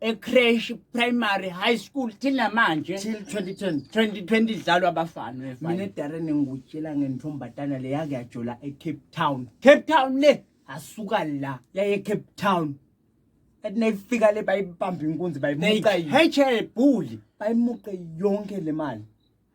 ecresh primary high school till namanje till 2010 2020 idlalwa abafana mina efana edarren engikutshela ngentombazana le yake yajola ecape town cape town le asuka la yaye cape town ethi nayifika le bayibamba inkunzi bayimuca yi- nayichebhuli bayimuqe yonke le mali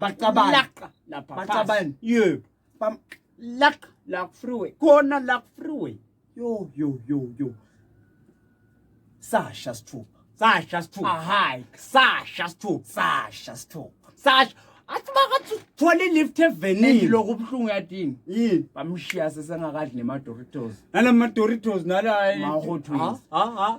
bacabana laqa lapha bacabana yebo bam laqa la freeway khona la freeway yo yo yo yo sasha sithupha sasha sithupha ahay sasha sithupha sasha sithupha sasha athi makathi uthole lift evenini lokho ubuhlungu yadini yini bamshiya sesengakadli nema Doritos nalama Doritos nala ma Hot Wheels ha ha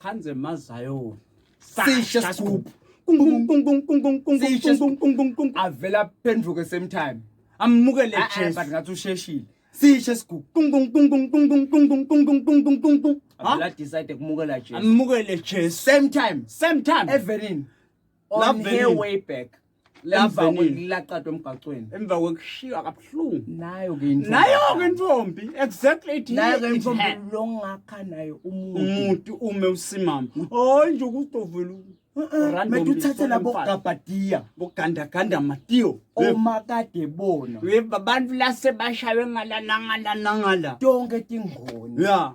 Khanze mazayo. Sisha scoop. Avela phenduke same time. Amukele Jesu. But ngathi usheshile. Sisha scoop. Avela decide kumukela Jesu. Amukele Jesu. Same time. Same time. Everin. on her way back emva kwelaqatwa emgaqweni emva kwekushiywa kabuhlungu nayo ke intombi nayo ke intombi exactly it nayo ke intombi longakha nayo umuntu umuntu ume usimama hayi nje ukudovela mede uthathe labo gabhadiya bogandaganda matiyo omakade bona abantu lase bashaywe ngalanangalanangala tonke tingoni ya yeah.